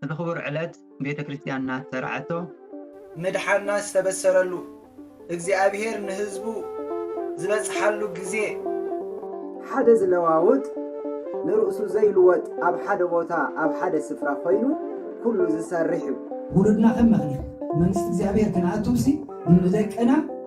እዚ ክቡር ዕለት ቤተ ክርስትያንና ዝሰርዓቶ፣ መድሓና ዝተበሰረሉ፣ እግዚኣብሔር ንህዝቡ ዝበጽሓሉ ግዜ፣ ሓደ ዝለዋውጥ ንርእሱ ዘይልወጥ ኣብ ሓደ ቦታ ኣብ ሓደ ስፍራ ኮይኑ ኩሉ ዝሰርሕ እዩ። ውሉድና ከም መክሊት መንግስቲ እግዚኣብሔር ክንኣቱብሲ ንደቅና፣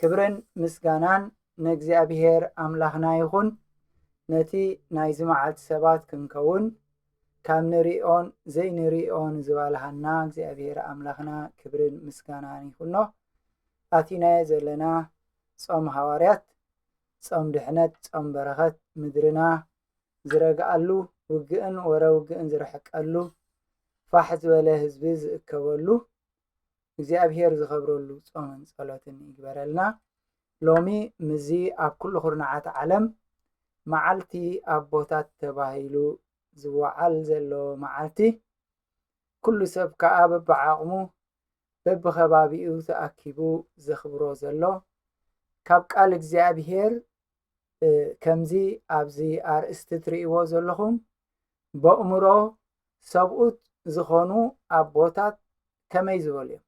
ክብርን ምስጋናን ንእግዚኣብሄር ኣምላኽና ይኹን፣ ነቲ ናይዚ መዓልቲ ሰባት ክንከውን ካብ ንርእዮን ዘይንርእዮን ዝባልሃና እግዚኣብሄር ኣምላኽና ክብርን ምስጋናን ይኹኖ። ኣቲናዮ ዘለና ጾም ሃዋርያት፣ ጾም ድሕነት፣ ጾም በረኸት፣ ምድርና ዝረግኣሉ፣ ውግእን ወረ ውግእን ዝርሕቀሉ፣ ፋሕ ዝበለ ህዝቢ ዝእከበሉ፣ እግዚኣብሄር ዝኸብረሉ ጾምን ጸሎትን ይግበረልና። ሎሚ ምዚ ኣብ ኩሉ ኩርናዓት ዓለም መዓልቲ ኣቦታት ተባሂሉ ዝወዓል ዘሎ መዓልቲ ኩሉ ሰብ ከዓ በብዓቕሙ በብኸባቢኡ ተኣኪቡ ዘኽብሮ ዘሎ ካብ ቃል እግዚኣብሄር ከምዚ ኣብዚ ኣርእስቲ ትርእይዎ ዘለኹም በእምሮ ሰብኡት ዝኾኑ ኣቦታት ከመይ ዝበሉ እዮም?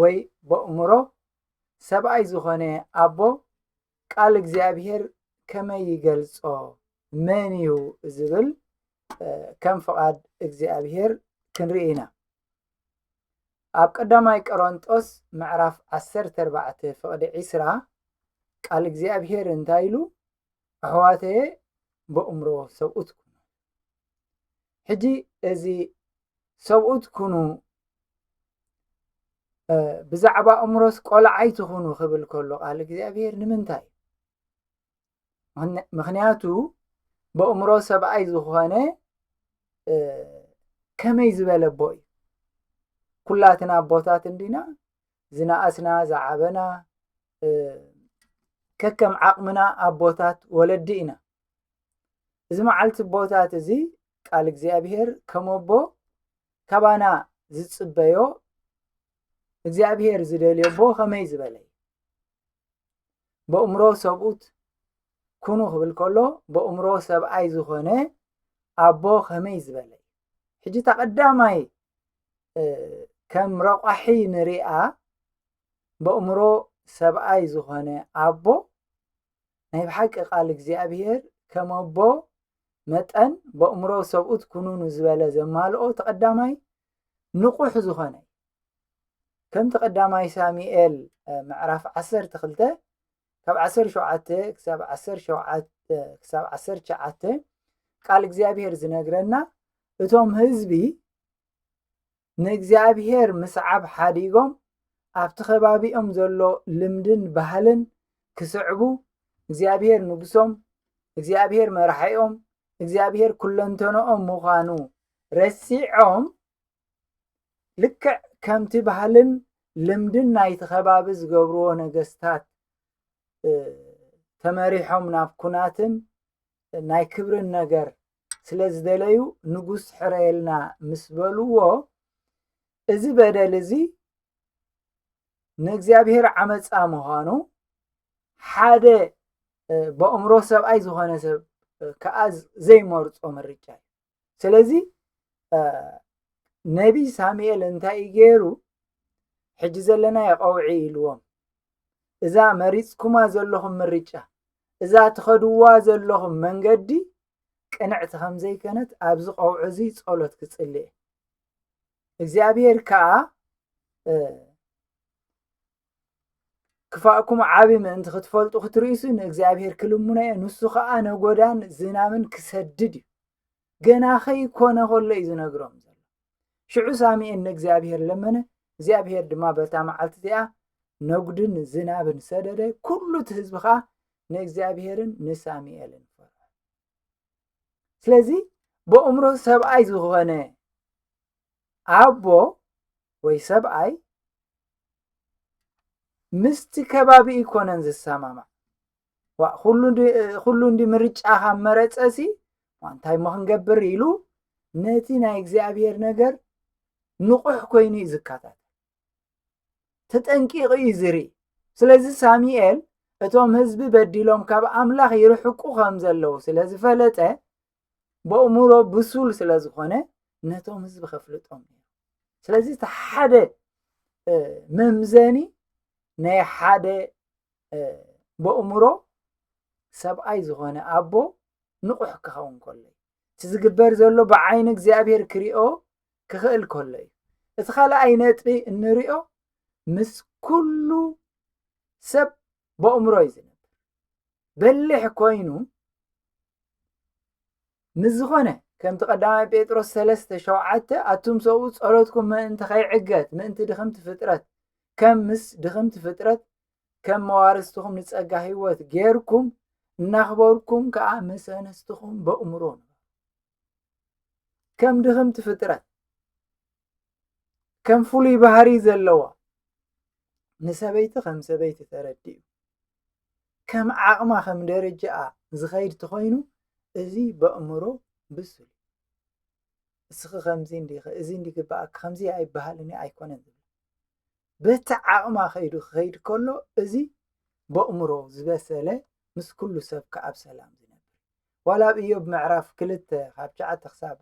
ወይ በእምሮ ሰብኣይ ዝኾነ ኣቦ ቃል እግዚኣብሔር ከመይ ይገልጾ? መን እዩ ዝብል ከም ፍቓድ እግዚኣብሔር ክንርኢ ኢና። ኣብ ቀዳማይ ቀሮንጦስ ምዕራፍ 14 ፍቕዲ 20 ቃል እግዚኣብሔር እንታይ ኢሉ ኣሕዋተየ በእምሮ ሰብኡት ኩኑ ሕጂ እዚ ሰብኡት ኩኑ ብዛዕባ እምሮስ ቆልዓ ኣይትኹኑ ክብል ከሎ ቃል እግዚኣብሔር ንምንታይ ምክንያቱ ብእምሮ ሰብኣይ ዝኾነ ከመይ ዝበለ ኣቦ እዩ ኩላትና ኣቦታት እንዲና ዝነኣስና ዝዓበና ከከም ዓቕምና ኣቦታት ወለዲ ኢና እዚ መዓልቲ ቦታት እዚ ቃል እግዚኣብሔር ከመቦ ካባና ዝጽበዮ እግዚኣብሔር ዝደልዮ ቦ ከመይ ዝበለ እዩ በእምሮ ሰብኡት ኩኑ ክብል ከሎ በእምሮ ሰብኣይ ዝኾነ ኣቦ ከመይ ዝበለ እዩ ሕጂ እታ ቀዳማይ ከም ረቋሒ ንሪኣ በእምሮ ሰብኣይ ዝኾነ ኣቦ ናይ ብሓቂ ቃል እግዚኣብሄር ከም ኣቦ መጠን በእምሮ ሰብኡት ኩኑኑ ዝበለ ዘማልኦ ተቐዳማይ ንቑሕ ዝኾነ እዩ ከም ተቐዳማይ ሳሙኤል ምዕራፍ ዓሰርተ ክልተ ካብ ዓሰርተ ሸውዓተ ክሳብ ዓሰርተ ሸውዓተ ክሳብ ዓሰርተ ትሽዓተ ቃል እግዚኣብሄር ዝነግረና እቶም ህዝቢ ንእግዚኣብሄር ምስዓብ ሓዲጎም ኣብቲ ከባቢኦም ዘሎ ልምድን ባህልን ክስዕቡ እግዚኣብሄር ንጉሶም እግዚኣብሄር መራሒኦም እግዚኣብሄር ኩለንተንኦም ምዃኑ ረሲዖም ልክዕ ከምቲ ባህልን ልምድን ናይቲ ከባቢ ዝገብርዎ ነገስታት ተመሪሖም ናብ ኩናትን ናይ ክብርን ነገር ስለ ዝደለዩ ንጉስ ሕረየልና ምስ በልዎ እዚ በደል እዚ ንእግዚኣብሔር ዓመፃ ምዃኑ ሓደ በእምሮ ሰብኣይ ዝኾነ ሰብ ከዓ ዘይመርፆ ምርጫ እዩ ስለዚ ነቢ ሳሙኤል እንታይ እዩ ገይሩ ሕጂ ዘለና የቐውዒ ኢልዎም እዛ መሪፅኩማ ዘለኹም ምርጫ እዛ ትኸድዋ ዘለኹም መንገዲ ቅንዕቲ ከም ዘይከነት ኣብዚ ቀውዕ እዚ ጸሎት ክጽሊ እየ እግዚኣብሔር ከዓ ክፋእኩም ዓብ ምእንቲ ክትፈልጡ ክትርእሱ ንእግዚኣብሔር ክልሙኖ እየ ንሱ ከዓ ነጎዳን ዝናምን ክሰድድ እዩ ገና ኸይኰነ ኸሎ እዩ ዝነግሮም ዘሎ። ሽዑ ሳሙኤል ንእግዚኣብሄር ለመነ፣ እግዚኣብሄር ድማ በታ መዓልቲ እቲኣ ነጕድን ዝናብን ሰደደ፣ ኵሉ እቲ ህዝቢ ኸኣ ንእግዚኣብሄርን ንሳሙኤልን ፈርሑ። ስለዚ ብእምሮ ሰብኣይ ዝዀነ ኣቦ ወይ ሰብኣይ ምስቲ ከባቢ ኣይኰነን ዝሰማማዕ፣ ኩሉ እንዲ ምርጫ ካብ መረፀሲ እንታይ መክንገብር ኢሉ ነቲ ናይ እግዚኣብሔር ነገር ንቑሕ ኮይኑ እዩ ዝከታተል ተጠንቂቑ እዩ ዝርኢ ስለዚ ሳሙኤል እቶም ህዝቢ በዲሎም ካብ ኣምላኽ ይርሕቁ ከም ዘለዉ ስለ ዝፈለጠ በእምሮ ብሱል ስለ ዝኾነ ነቶም ህዝቢ ከፍልጦም እዩ ስለዚ እቲ ሓደ መምዘኒ ናይ ሓደ በእምሮ ሰብኣይ ዝኾነ ኣቦ ንቑሕ ክኸውን ከሎ እዩ እቲ ዝግበር ዘሎ ብዓይኒ እግዚኣብሄር ክሪኦ ክኽእል ከሎ እዩ እቲ ካልኣይ ነጥቢ እንሪኦ ምስ ኩሉ ሰብ በእምሮ እዩ ዝነብር በሊሕ ኮይኑ ንዝኾነ ከምቲ ቀዳማይ ጴጥሮስ ሰለስተ ሸውዓተ ኣቱም ሰብኡ ጸሎትኩም ምእንቲ ከይዕገት ምእንቲ ድኽምቲ ፍጥረት ከም ምስ ድኽምቲ ፍጥረት ከም መዋርስትኹም ንጸጋ ህይወት ጌርኩም እናኽበርኩም ከዓ ምስ ኣንስትኹም በእምሮ ከም ድኽምቲ ፍጥረት ከም ፍሉይ ባህሪ ዘለዋ ንሰበይቲ ከም ሰበይቲ ተረዲኡ ከም ዓቕማ ከም ደረጃኣ ዝኸይድ ተኾይኑ እዚ በእምሮ ብሱል እስኺ ከምዚ እንዲኺ እዚ እንዲ ግበኣኪ ከምዚ ኣይበሃልን ኣይኮነን ዝብል በቲ ዓቕማ ከይዱ ክኸይድ ከሎ እዚ በእምሮ ዝበሰለ ምስ ኩሉ ሰብ ከኣብ ሰላም ዝነብር ዋላ ኣብ እዮብ ምዕራፍ ክልተ ካብ ሸዓተ ክሳብ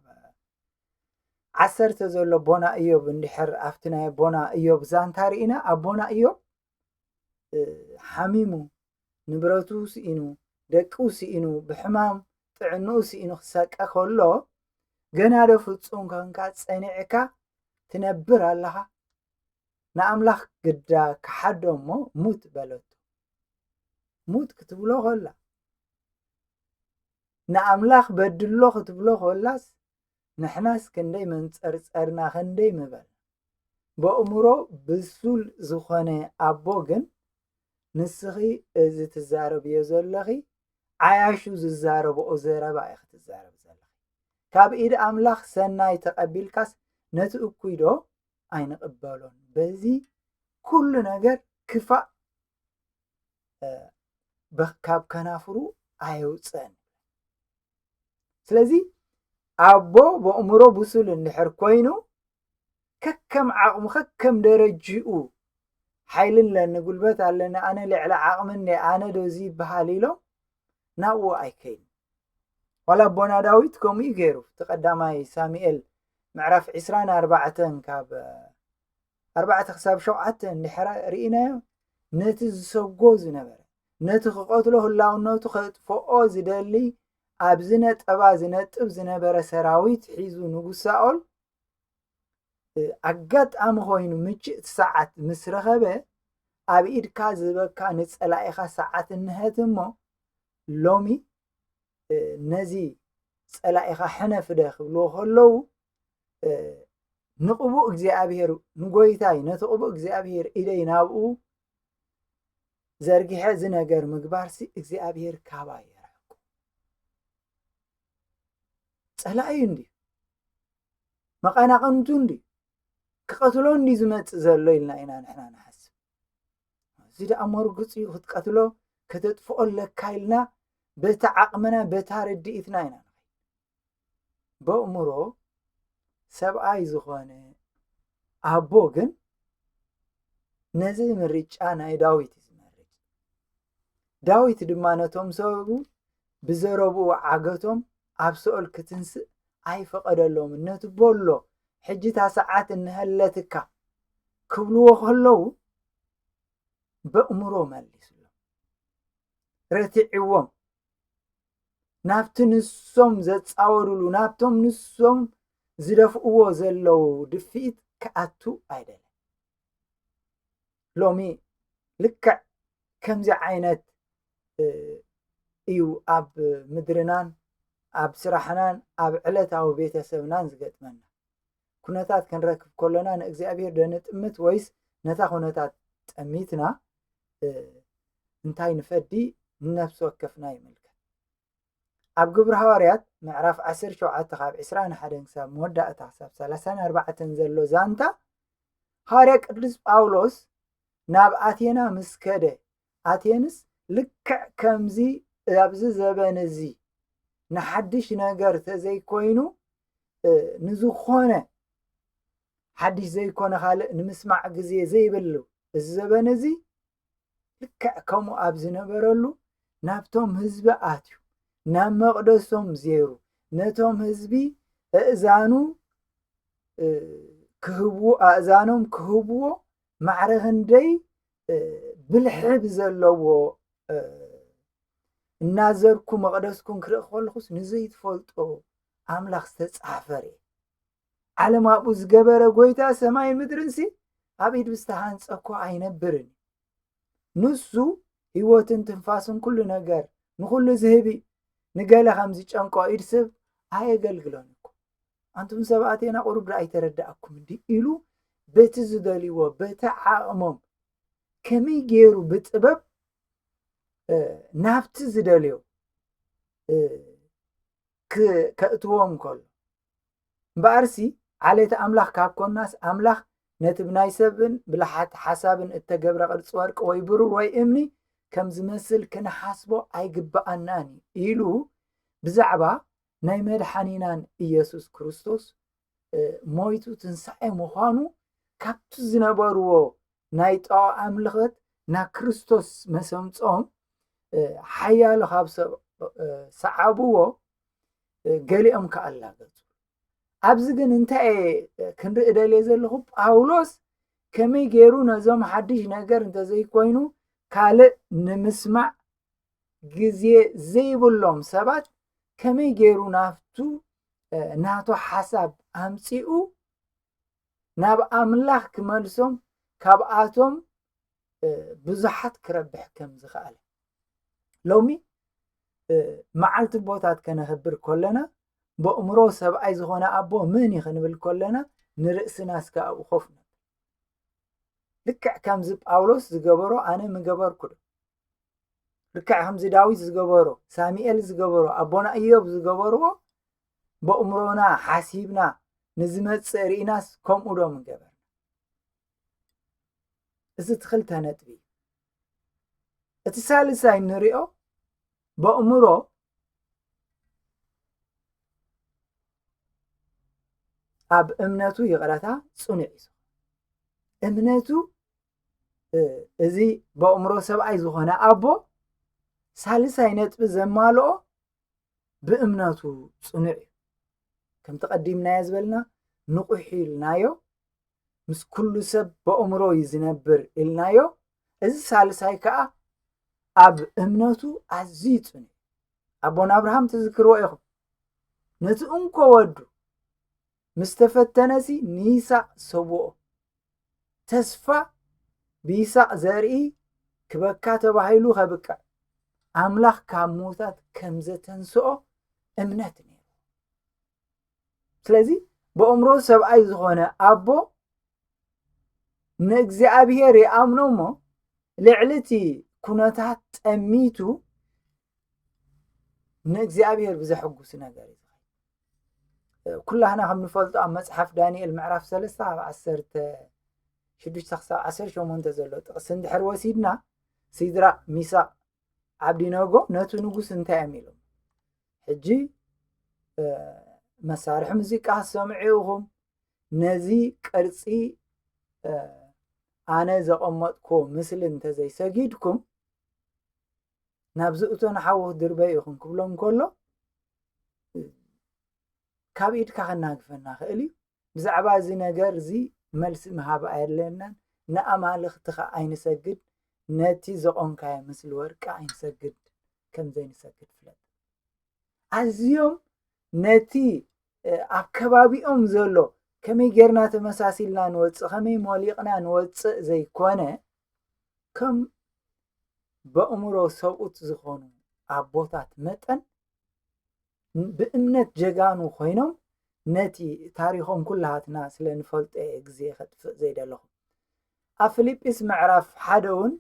ዓሰርተ ዘሎ ቦና እዮብ እንድሕር ኣብቲ ናይ ቦና እዮብ ዛንታ ርኢና ኣብ ቦና እዮብ ሓሚሙ ንብረቱ ስኢኑ ደቁ ስኢኑ ብሕማም ጥዕንኡ ስኢኑ ክሰቀ ከሎ ገና ዶ ፍፁም ኮንካ ፀኒዕካ ትነብር ኣለኻ ንኣምላኽ ግዳ ክሓዶ እሞ ሙት በለቶ ሙት ክትብሎ ከላ ንኣምላኽ በድሎ ክትብሎ ኮላስ ንሕናስ ክንደይ መንጸርጸርና ክንደይ ምበልና በእሙሮ ብሱል ዝኾነ ኣቦ ግን ንስኺ እዚ ትዛረብዮ ዘለኺ ዓያሹ ዝዛረብኦ ዘረባ ኢኺ ትዛረብ ካብ ኢድ ኣምላኽ ሰናይ ተቐቢልካስ ነቲ እኩይ ዶ ኣይንቕበሎን በዚ ኩሉ ነገር ክፋእ ካብ ከናፍሩ ኣየውፅእን ስለዚ ኣቦ በእምሮ ብሱል እንድሕር ኮይኑ ከከም ዓቕሙ ከከም ደረጅኡ ሓይሊ ኣለኒ ጉልበት ኣለኒ ኣነ ልዕሊ ዓቕሚ እኒ ኣነ ዶ እዚ ይበሃል ኢሎም ናብኡ ኣይከይኑ ዋላ ኣቦና ዳዊት ከምኡ እዩ ገይሩ እቲ ቀዳማይ ሳሙኤል ምዕራፍ ዕስራን ኣርባዕተን ካብ ኣርባዕተ ክሳብ ሸውዓተ እንድሕረ ርኢናዮ ነቲ ዝሰጎ ዝነበረ ነቲ ክቐትሎ ህላውነቱ ከጥፍኦ ዝደሊ ኣብዚ ነጠባ ዝነጥብ ዝነበረ ሰራዊት ሒዙ ንጉስ ሳኦል ኣጋጣሚ ኮይኑ ምችእቲ ሰዓት ምስ ረኸበ ኣብ ኢድካ ዝበካ ንፀላኢኻ ሰዓት እንሀት እሞ ሎሚ ነዚ ፀላኢኻ ሕነፍደ ክብልዎ ከለዉ ንቕቡእ እግዚኣብሔር ንጎይታይ ነቲ ቅቡእ እግዚኣብሔር ኢደይ ናብኡ ዘርጊሐ እዚ ነገር ምግባርሲ እግዚኣብሔር ካባይ የርሕቁ ፀላእዩ እንድዩ መቐናቕንቱ እንድዩ ክቐትሎ እንድዩ ዝመፅእ ዘሎ ኢልና ኢና ንሕና ንሓስብ እዚ ደኣ መርግፅ እዩ ክትቀትሎ ከተጥፍኦ ኣለካ ኢልና በቲ ዓቕምና በታ ርድኢትና ኢና በእምሮ ሰብኣይ ዝኾነ ኣቦ ግን ነዚ ምርጫ ናይ ዳዊት እዩ ዝመርጭ ዳዊት ድማ ነቶም ሰብኡ ብዘረብኡ ዓገቶም ኣብ ሰኦል ክትንስእ ኣይፈቐደሎምን ነቲ ቦሎ ሕጂ እታ ሰዓት እንሀለትካ ክብልዎ ከለዉ በእምሮ መሊስሎም ረቲዕዎም ናብቲ ንሶም ዘፃወሩሉ ናብቶም ንሶም ዝደፍእዎ ዘለዉ ድፍኢት ክኣቱ ኣይደልን ሎሚ ልክዕ ከምዚ ዓይነት እዩ ኣብ ምድርናን ኣብ ስራሕናን ኣብ ዕለታዊ ቤተሰብናን ዝገጥመና ኩነታት ክንረክብ ከሎና ንእግዚኣብሔር ዶ ንጥምት ወይስ ነታ ኩነታት ጠሚትና እንታይ ንፈዲ ንነፍሲ ወከፍና ይምልከት ኣብ ግብሪ ሃዋርያት ምዕራፍ 17 ካብ 21 ክሳብ መወዳእታ ክሳብ 34 ዘሎ ዛንታ ሃዋርያ ቅዱስ ጳውሎስ ናብ ኣቴና ምስ ከደ ኣቴንስ ልክዕ ከምዚ ኣብዚ ዘበን እዚ ንሓድሽ ነገር ተዘይኮይኑ ንዝኾነ ሓድሽ ዘይኮነ ካልእ ንምስማዕ ግዜ ዘይብሉ እዚ ዘበን እዚ ልክዕ ከምኡ ኣብ ዝነበረሉ ናብቶም ህዝቢ ኣትዩ ናብ መቕደሶም ዜሩ ነቶም ህዝቢ እእዛኑ ክህብዎ ኣእዛኖም ክህብዎ ማዕረ ክንደይ ብልሒ ብዘለዎ እናዘርኩ መቕደስኩም ክርኢ ከለኹስ ንዘይትፈልጦ ኣምላኽ ዝተጻፈረ ዓለም ኣብኡ ዝገበረ ጎይታ ሰማይ ምድርንሲ ኣብ ኢድ ብዝተሃንፀ እኮ ኣይነብርን ንሱ ህይወትን ትንፋስን ኩሉ ነገር ንኹሉ ዝህብ ንገለ ከም ዝጨንቆ ኢድ ስብ ኣየገልግሎን እኮ ኣንቱም ሰብ ኣቴና ቁሩብ ዶ ኣይተረዳኣኩምን ድዩ ኢሉ በቲ ዝደልይዎ በቲ ዓቕሞም ከመይ ገይሩ ብጥበብ ናብቲ ዝደልዮ ከእትዎም ከሎ እምበኣርሲ ዓሌት ኣምላኽ ካብ ኮናስ ኣምላኽ ነቲ ብናይ ሰብን ብልሓት ሓሳብን እተገብረ ቅርፂ ወርቂ ወይ ብሩር ወይ እምኒ ከም ዝመስል ክንሓስቦ ኣይግብኣናን እዩ ኢሉ ብዛዕባ ናይ መድሓኒናን ኢየሱስ ክርስቶስ ሞይቱ ትንሳኤ ምዃኑ ካብቲ ዝነበርዎ ናይ ጣዖ ኣምልኸት ናብ ክርስቶስ መሰምጾም ሓያሎ ካብ ሰብ ሰዓብዎ ገሊኦም ከ ኣላገጹ ኣብዚ ግን እንታይ ክንርኢ ደልየ ዘለኹ ጳውሎስ ከመይ ገይሩ ነዞም ሓድሽ ነገር እንተዘይኮይኑ ካልእ ንምስማዕ ግዜ ዘይብሎም ሰባት ከመይ ገይሩ ናብቱ ናቱ ሓሳብ ኣምፂኡ ናብ ኣምላኽ ክመልሶም ካብኣቶም ብዙሓት ክረብሕ ከም ዝኸኣለ ሎሚ መዓልቲ ቦታት ከነኽብር ከለና በእምሮ ሰብኣይ ዝኾነ ኣቦ መን እዩ ክንብል ከለና ንርእስና እስከ ኣብኡ ኮፍ ልክዕ ከምዚ ጳውሎስ ዝገበሮ ኣነ ምገበርኩ ዶ ልክዕ ከምዚ ዳዊት ዝገበሮ ሳሙኤል ዝገበሮ ኣቦና እዮብ ዝገበርዎ በእምሮና ሓሲብና ንዝመፅእ ርኢናስ ከምኡ ዶ ምገበርና እዚ እቲ ክልተ ነጥቢ እዩ እቲ ሳልሳይ ንሪኦ በእምሮ ኣብ እምነቱ ይቕረታ ፅኑዕ እዩ እምነቱ እዚ በእምሮ ሰብኣይ ዝኾነ ኣቦ ሳልሳይ ነጥቢ ዘማልኦ ብእምነቱ ፅኑዕ እዩ ከምቲ ቀዲምናዮ ዝበልና ንቑሕ ኢልናዮ ምስ ኩሉ ሰብ በእምሮ እዩ ዝነብር ኢልናዮ እዚ ሳልሳይ ከዓ ኣብ እምነቱ ኣዝዩ ፅኑዕ ኣቦና ኣብርሃም ትዝክርዎ ኢኹም ነቲ እንኮ ወዱ ምስ ተፈተነሲ ንይሳቅ ሰውኦ። ተስፋ ብይሳቅ ዘርኢ ክበካ ተባሂሉ ከብቅዕ ኣምላኽ ካብ ምዉታት ከም ዘተንስኦ እምነት ነይሩ። ስለዚ ብእምሮ ሰብኣይ ዝኾነ ኣቦ ንእግዚኣብሔር ይኣምኖ እሞ ልዕሊ እቲ ኩነታት ጠሚቱ ንእግዚኣብሔር ብዘሐጉስ ነገር እዩ ኩላህና ከም ንፈልጦ ኣብ መጽሓፍ ዳንኤል ምዕራፍ ሰለስተ ኣብ ዓሰርተ ሽዱሽተ ክሳብ ዓሰርተ ሸሞንተ ዘሎ ጥቕሲ እንድሕር ወሲድና ሲድራቅ ሚሳቅ ዓብዲነጎ ነቲ ንጉስ እንታይ እዮም ኢሎም ሕጂ መሳርሒ ሙዚቃ ሰምዑ ኢኹም ነዚ ቅርፂ ኣነ ዘቐመጥኩዎ ምስሊ እንተዘይሰጊድኩም ናብዚ እቶ ንሓወ ድርበይ ኢኹም ክብሎም ከሎ ካብ ኢድካ ከናግፈና ክእል እዩ ብዛዕባ እዚ ነገር እዚ መልሲ ምሃብ ኣየድለየናን ንኣማልኽትኻ ኣይንሰግድ ነቲ ዘቖምካዮ ምስሊ ወርቂ ኣይንሰግድ ከም ዘይንሰግድ ፍለጥ ኣዝዮም ነቲ ኣብ ከባቢኦም ዘሎ ከመይ ጌርና ተመሳሲልና ንወፅእ ከመይ ሞሊቕና ንወፅእ ዘይኮነ ከም በእምሮ ሰብኡት ዝኾኑ ኣቦታት መጠን ብእምነት ጀጋኑ ኮይኖም ነቲ ታሪኾም ኩላሃትና ስለ ንፈልጦ እየ ግዜ ከጥፍእ ዘይደለኹ ኣብ ፊልጵስ ምዕራፍ ሓደ እውን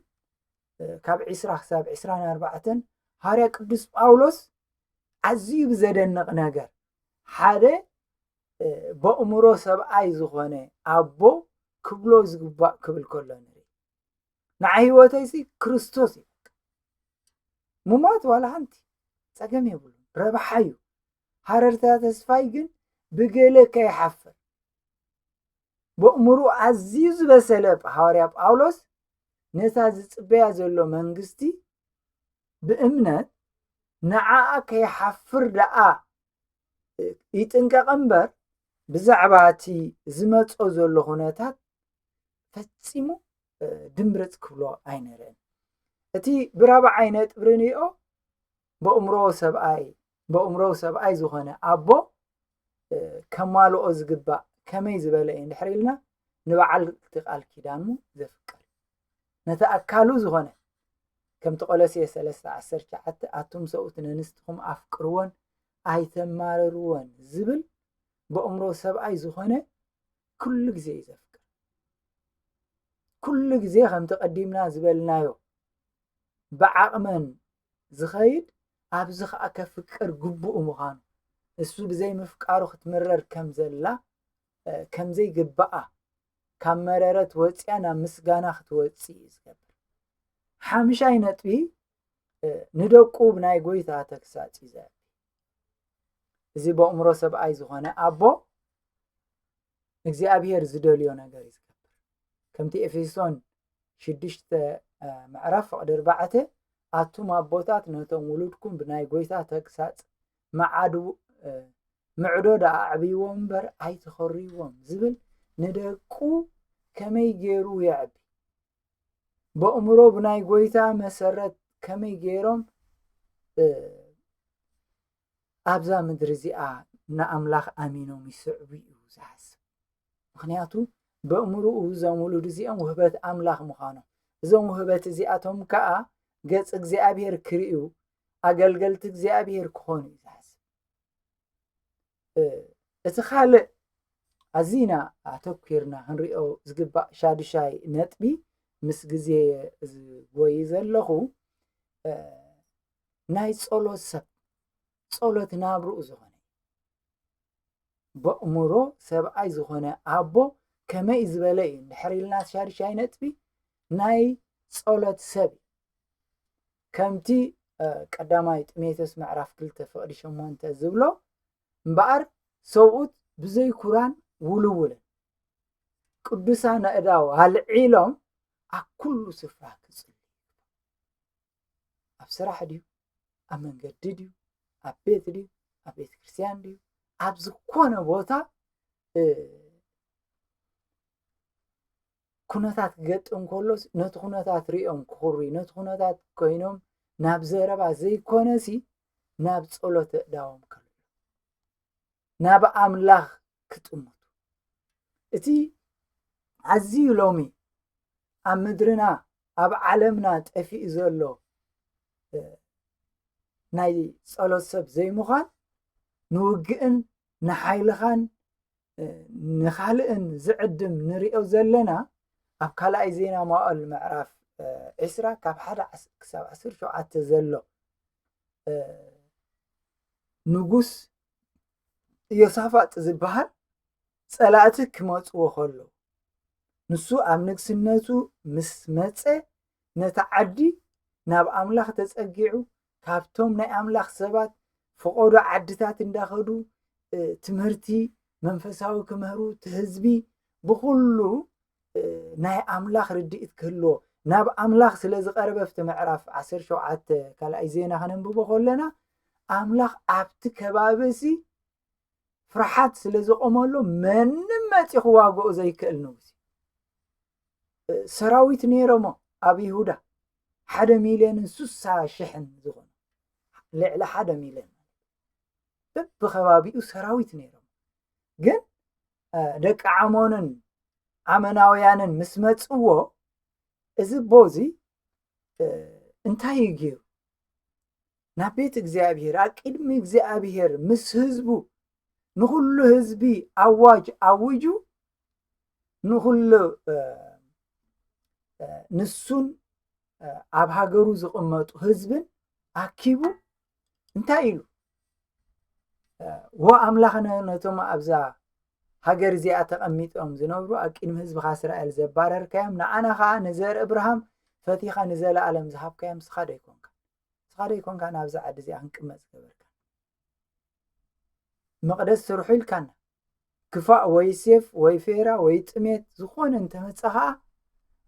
ካብ ዒስራ ክሳብ ዒስራን ኣርባዕተን ሃዋርያ ቅዱስ ጳውሎስ ኣዝዩ ብዘደንቕ ነገር ሓደ በእምሮ ሰብኣይ ዝኾነ ኣቦ ክብሎ ዝግባእ ክብል ከሎ ንርኢ ንዓይ ህይወተይሲ ክርስቶስ እዩ ምሟት ዋላ ሓንቲ ፀገም የብሉ ረብሓ እዩ ሃረርታ ተስፋይ ግን ብገለ ከይሓፍር በእምሩ ኣዝዩ ዝበሰለ ሃዋርያ ጳውሎስ ነታ ዝፅበያ ዘሎ መንግስቲ ብእምነት ንዓኣ ከይሓፍር ደኣ ይጥንቀቕ እምበር ብዛዕባ እቲ ዝመጾ ዘሎ ኩነታት ፈጺሙ ድምርፅ ክብሎ ኣይነርአን እቲ ብራብዓይ ነጥብ ርንኦ በእምሮ ሰብኣይ በእምሮ ሰብኣይ ዝኾነ ኣቦ ከማልኦ ዝግባእ ከመይ ዝበለ እዩ ንድሕር ኢልና ንበዓል እቲ ቃል ኪዳኑ ዘፍቅር ነቲ ኣካሉ ዝኾነ ከምቲ ቆሎሴ ሰለስተ ዓሰርተ ትሽዓተ ኣቱም ሰብኡት ነንስትኹም ኣፍቅርወን ኣይተማርርወን ዝብል በእምሮ ሰብኣይ ዝኾነ ኩሉ ግዜ እዩ ዘፍቅር ኩሉ ግዜ ከምቲ ቀዲምና ዝበልናዮ ብዓቕመን ዝኸይድ ኣብዚ ከዓ ከፍቅር ግቡእ ምዃኑ እሱ ብዘይምፍቃሩ ክትምረር ከም ዘላ ከምዘይ ግባኣ ካብ መረረት ወጽያ ናብ ምስጋና ክትወጽእ እዩ ዝገብር ሓምሻይ ነጥቢ ንደቁ ብናይ ጎይታ ተግሳጽ እዩ ዘ እዚ በእምሮ ሰብኣይ ዝኾነ ኣቦ እግዚኣብሄር ዝደልዮ ነገር እዩ ዝገብር ከምቲ ኤፌሶን ሽዱሽተ ምዕራፍ ፍቕዲ ኣርባዕተ ኣቱም ኣቦታት ነቶም ውሉድኩም ብናይ ጎይታ ተግሳጽ ምዓዱ ምዕዶ ደኣ ኣዕብይዎም እምበር ኣይተኸርይዎም ዝብል ንደቁ ከመይ ገይሩ የዕቢ በእምሮ ብናይ ጎይታ መሰረት ከመይ ገይሮም ኣብዛ ምድሪ እዚኣ ንኣምላኽ ኣሚኖም ይስዕቡ እዩ ዝሓስብ ምክንያቱ በእምርኡ እዞም ውሉድ እዚኦም ውህበት ኣምላኽ ምዃኖም እዞም ውህበት እዚኣቶም ከዓ ገፅ እግዚኣብሔር ክርእዩ ኣገልገልቲ እግዚኣብሔር ክኾኑ እዩ ዝሓስብ እቲ ካልእ ኣዚና ኣተኲርና ክንሪኦ ዝግባእ ሻዱሻይ ነጥቢ ምስ ግዜ ዝጎይ ዘለኹ ናይ ጸሎት ሰብ ጸሎት ናብርኡ ዝኾነ በእምሮ ሰብኣይ ዝኾነ ኣቦ ከመይ ዝበለ እዩ እንድሕር ኢልና ሻዱሻይ ነጥቢ ናይ ጸሎት ሰብ ከምቲ ቀዳማይ ጢሞቴዎስ ምዕራፍ ክልተ ፍቕዲ ሸሞንተ ዝብሎ እምበኣር ሰብኡት ብዘይ ኩራን ውልውልን ቅዱሳን ኣእዳው ኣልዒሎም ኣብ ኩሉ ስፍራ ክጽልዩ ኣብ ስራሕ ድዩ ኣብ መንገዲ ድዩ ኣብ ቤት ድዩ ኣብ ቤተ ክርስቲያን ድዩ ኣብ ዝኾነ ቦታ ኩነታት ክገጥም ከሎስ ነቲ ኩነታት ሪኦም ክኹርዩ ነቲ ኩነታት ኮይኖም ናብ ዘረባ ዘይኮነሲ ናብ ጸሎት እእዳዎም ከልዑ ናብ ኣምላኽ ክጥምቱ እቲ ኣዝዩ ሎሚ ኣብ ምድርና ኣብ ዓለምና ጠፊኡ ዘሎ ናይ ጸሎት ሰብ ዘይምዃን ንውግእን ንሓይልኻን ንካልእን ዝዕድም ንሪኦ ዘለና ኣብ ካልኣይ ዜና መዋእል ምዕራፍ ዒስራ ካብ ሓደ ክሳብ ዓሰርተ ሸውዓተ ዘሎ ንጉስ ኢዮሳፋጥ ዝበሃል ጸላእቲ ክመጽዎ ከሎ ንሱ ኣብ ንግስነቱ ምስ መጸ ነታ ዓዲ ናብ ኣምላኽ ተጸጊዑ ካብቶም ናይ ኣምላኽ ሰባት ፍቆዶ ዓድታት እንዳኸዱ ትምህርቲ መንፈሳዊ ክምህሩ ትህዝቢ ብኹሉ ናይ ኣምላኽ ርድኢት ክህልዎ ናብ ኣምላኽ ስለ ዝቐረበ ኣብቲ ምዕራፍ 17 ካልኣይ ዜና ከነንብቦ ከለና ኣምላኽ ኣብቲ ከባቢ እዚ ፍርሓት ስለ ዝቆመሉ መንም መፂ ክዋግኦ ዘይክእል ንጉስ ሰራዊት ነይሮሞ ኣብ ይሁዳ ሓደ ሚልዮንን ስሳ ሽሕን ዝኾኑ ልዕሊ ሓደ ሚልዮን በብከባቢኡ ሰራዊት ነይሮም ግን ደቂ ዓሞንን ዓመናውያንን ምስ መፅዎ እዚ ቦ እዚ እንታይ እዩ ገይሩ ናብ ቤት እግዚኣብሔር ኣብ ቅድሚ እግዚኣብሔር ምስ ህዝቡ ንኹሉ ህዝቢ ኣዋጅ ኣውጁ ንኹሉ ንሱን ኣብ ሃገሩ ዝቕመጡ ህዝብን ኣኪቡ እንታይ ኢሉ ወኣምላኽነ ነቶም ኣብዛ ሃገር እዚኣ ተቐሚጦም ዝነብሩ ኣብ ቅድሚ ህዝብኻ እስራኤል ዘባረርካዮም ንኣና ከዓ ንዘርኢ እብርሃም ፈቲኻ ንዘለኣለም ዝሃብካዮም ስኻ ዶ ኣይኮንካ ንስኻ ዶ ኣይኮንካን ኣብዛ ዓዲ እዚኣ ክንቅመጥ ዝገበርካን መቕደስ ስርሑ ኢልካና ክፋእ ወይ ሴፍ ወይ ፌራ ወይ ጥሜት ዝኾነ እንተመፀ ከዓ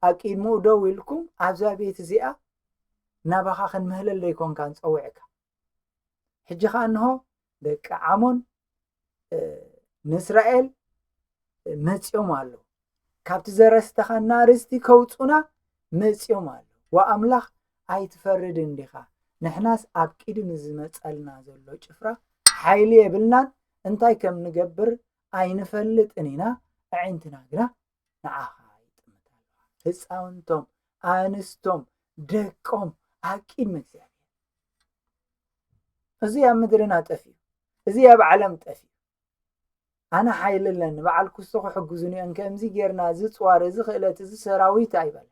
ኣብ ቅድሚኡ ደው ኢልኩም ኣብዛ ቤት እዚኣ ናባኻ ክንምህለል ዘይኮንካ ንፀውዕካ ሕጂ ከዓ እንሆ ደቂ ዓሞን ንእስራኤል መፂኦም ኣለዉ ካብቲ ዘረስተኻና ርስቲ ከውፁና መፂኦም ኣለዉ ወኣምላኽ ኣይትፈርድ እንዲኻ ንሕናስ ኣብ ቂዱ ንዝመፀልና ዘሎ ጭፍራ ሓይሊ የብልናን እንታይ ከም ንገብር ኣይንፈልጥን ኢና ኣዒንትና ግና ንዓኻ ይጥምት ኣለዋ ህፃውንቶም ኣንስቶም ደቆም ኣቂም እግዚኣብሔር እዚ ኣብ ምድርና ጠፍዩ እዚ ኣብ ዓለም ጠፍዩ ኣነ ሓይሊ ኣለኒ በዓል ኩሶ ክሕግዙን እዮን ከምዚ ጌርና እዚ ፅዋር እዚ ክእለት እዚ ሰራዊት ኣይበለ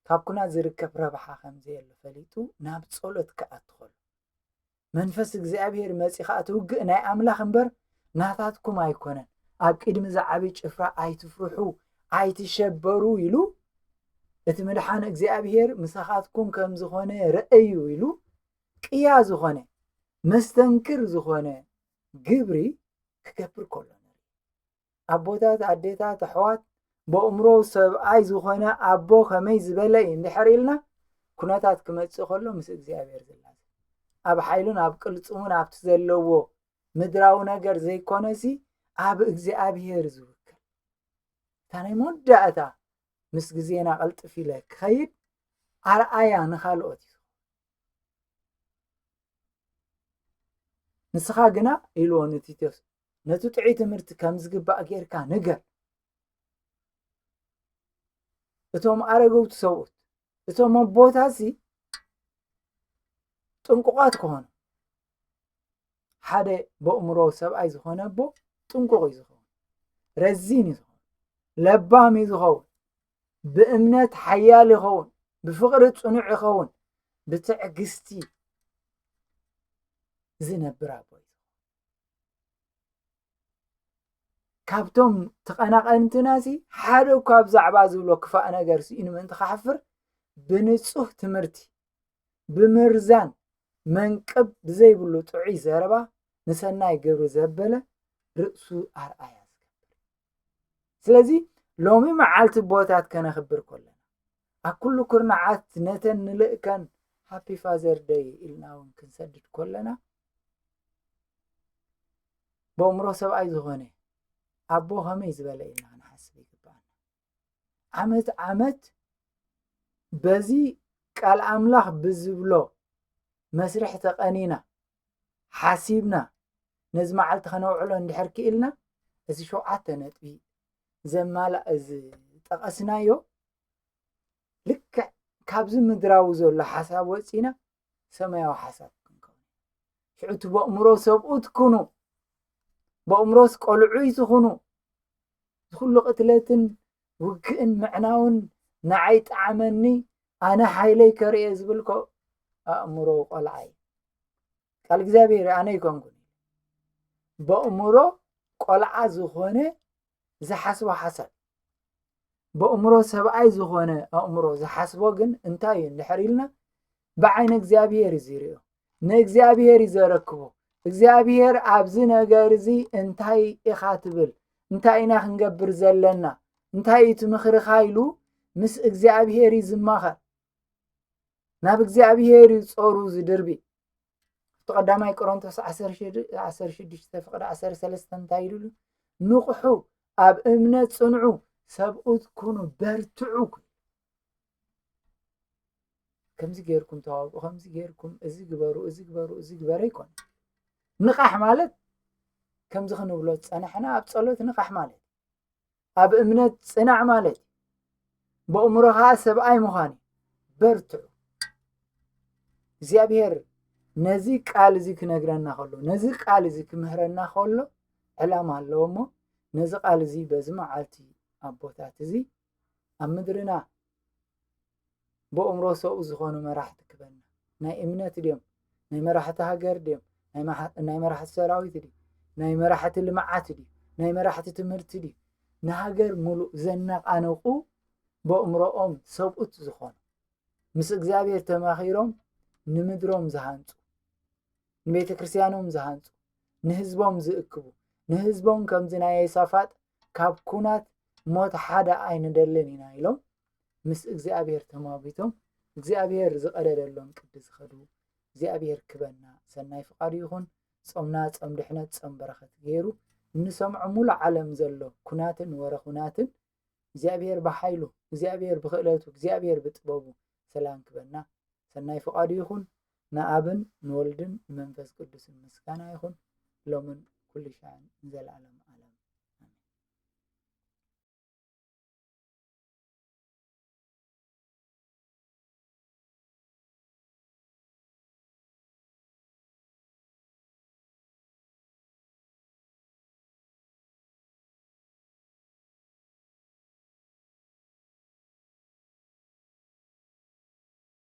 ካብ ኩናት ዝርከብ ረብሓ ከምዘየሉ ፈሊጡ ናብ ጸሎት ክኣትኸሉ መንፈስ እግዚኣብሔር መጺኻ እቲ ውግእ ናይ ኣምላኽ እምበር ናታትኩም ኣይኮነን ኣብ ቅድሚ እዚ ዓብዪ ጭፍራ ኣይትፍርሑ ኣይትሸበሩ ኢሉ እቲ ምድሓን እግዚኣብሔር ምሳኻትኩም ከም ዝኾነ ረእዩ ኢሉ ቅያ ዝኾነ መስተንክር ዝኾነ ግብሪ ክገብር ከሎ ኣቦታት ኣዴታት ኣሕዋት በእምሮ ሰብኣይ ዝኾነ ኣቦ ከመይ ዝበለ እዩ እንድሕር ኢልና ኩነታት ክመጽእ ከሎ ምስ እግዚኣብሔር ዝላዘ ኣብ ሓይሉን ኣብ ቅልፅሙን ኣብቲ ዘለዎ ምድራዊ ነገር ዘይኮነሲ ኣብ እግዚኣብሔር ዝውክል እታ ናይ መወዳእታ ምስ ግዜና ቅልጥፍ ኢለ ክኸይድ ኣርኣያ ንካልኦት እዩ ንስኻ ግና ኢልዎ ንቲቶስ ነቲ ጥዑይ ትምህርቲ ከም ዝግባእ ጌርካ ንገር። እቶም ኣረገውቲ ሰብኡት እቶም ኣቦታሲ ጥንቁቓት ክኾኑ ሓደ በእምሮ ሰብኣይ ዝኾነ ኣቦ ጥንቁቕ እዩ ዝኸውን፣ ረዚን እዩ ዝኸውን፣ ለባም እዩ ዝኸውን፣ ብእምነት ሓያል ይኸውን፣ ብፍቕሪ ፅኑዕ ይኸውን፣ ብትዕግስቲ ዝነብር ኣቦ እዩ። ካብቶም ተቐናቐንትናሲ ሓደ እኳ ብዛዕባ ዝብሎ ክፋእ ነገር ስኢኑ ምእንቲ ክሓፍር ብንጹህ ትምህርቲ ብምርዛን መንቅብ ብዘይብሉ ጥዑይ ዘረባ ንሰናይ ግብሪ ዘበለ ርእሱ ኣርኣያ ዝገብር ስለዚ ሎሚ መዓልቲ ቦታት ከነኽብር ከለና ኣብ ኩሉ ኩርናዓት ነተን ንልእከን ሃፒ ፋዘር ደይ ኢልና እውን ክንሰድድ ከለና ብእምሮ ሰብኣይ ዝኾነ ኣቦ ከመይ ዝበለ ኢና ክንሓስብ ይግባኣና ዓመት ዓመት በዚ ቃል ኣምላኽ ብዝብሎ መስርሕ ተቐኒና ሓሲብና ነዚ መዓልቲ ከነውዕሎ እንድሕር ክኢልና እዚ ሸውዓተ ነጥቢ ዘማላእ እዚ ጠቐስናዮ ልክዕ ካብዚ ምድራዊ ዘሎ ሓሳብ ወፂና ሰማያዊ ሓሳብ ክንከውን ሽዑ እቲ በእምሮ ሰብኡት ኩኑ በእምሮስ ቆልዑይ ዝኹኑ ዝኩሉ ቅትለትን ውግእን ምዕናውን ንዓይ ጠዓመኒ ኣነ ሓይለይ ከርእየ ዝብልኮ ኣእምሮ ቆልዓ እዩ ቃል እግዚኣብሔር ኣነ ይኮንኩን በእምሮ ቆልዓ ዝኾነ ዝሓስቦ ሓሳብ በእምሮ ሰብኣይ ዝኾነ ኣእምሮ ዝሓስቦ ግን እንታይ እዩ እንድሕር ኢልና ብዓይነ እግዚኣብሄር እዩ ዝሪኦ ንእግዚኣብሄር እዩ ዘረክቦ እግዚኣብሄር ኣብዚ ነገር እዚ እንታይ ኢኻ ትብል እንታይ ኢና ክንገብር ዘለና እንታይ እዩ እቲ ምኽርኻ ኢሉ ምስ እግዚኣብሄር እዩ ዝማኸር ናብ እግዚኣብሄር እዩ ጾሩ ዝድርቢ እቲ ቀዳማይ ቆሮንቶስ 16 ፍቅዲ 13 እንታይ ኢሉ ንቑሑ ኣብ እምነት ጽንዑ ሰብኡት ኩኑ በርትዑ ከምዚ ጌርኩም ተዋብኡ ከምዚ ጌርኩም እዚ ግበሩ እዚ ግበሩ እዚ ግበረ ይኮን ንቓሕ ማለት ከምዚ ክንብሎ ዝፀናሕና ኣብ ፀሎት ንቓሕ ማለት ኣብ እምነት ፅናዕ ማለት በእምሮ ከዓ ሰብኣይ ምዃን በርትዑ እግዚኣብሔር ነዚ ቃል እዚ ክነግረና ከሎ ነዚ ቃል እዚ ክምህረና ከሎ ዕላማ ኣለዎ እሞ ነዚ ቃል እዚ በዚ መዓልቲ ኣቦታት እዚ ኣብ ምድርና ብእምሮ ሰብኡ ዝኾኑ መራሕቲ ክበና ናይ እምነት ድዮም ናይ መራሕቲ ሃገር ድዮም ናይ መራሕቲ ሰራዊት ድዩ ናይ መራሕቲ ልምዓት ድዩ ናይ መራሕቲ ትምህርቲ ድዩ ንሃገር ሙሉእ ዘነቓነቑ በእምሮኦም ሰብኡት ዝኾኑ ምስ እግዚኣብሔር ተማኺሮም ንምድሮም ዝሃንፁ ንቤተ ክርስቲያኖም ዝሃንፁ ንህዝቦም ዝእክቡ ንህዝቦም ከምዚ ናይ የሳፋጥ ካብ ኩናት ሞት ሓደ ኣይንደልን ኢና ኢሎም ምስ እግዚኣብሔር ተማጒቶም እግዚኣብሔር ዝቐደደሎም ቅዲ ዝኸዱ እግዚኣብሔር ክበና ሰናይ ፍቃዱ ይኹን ጾምና ጾም ድሕነት ጾም በረኸት ገይሩ እንሰምዖ ሙሉእ ዓለም ዘሎ ኩናትን ወረ ኩናትን እግዚኣብሔር ብሓይሉ እግዚኣብሔር ብክእለቱ እግዚኣብሔር ብጥበቡ ሰላም ክበና ሰናይ ፍቃዱ ይኹን ንኣብን ንወልድን ንመንፈስ ቅዱስን ምስጋና ይኹን ሎምን ኩሉ ሻዕን ንዘለኣለም ኣለም ኣሜን።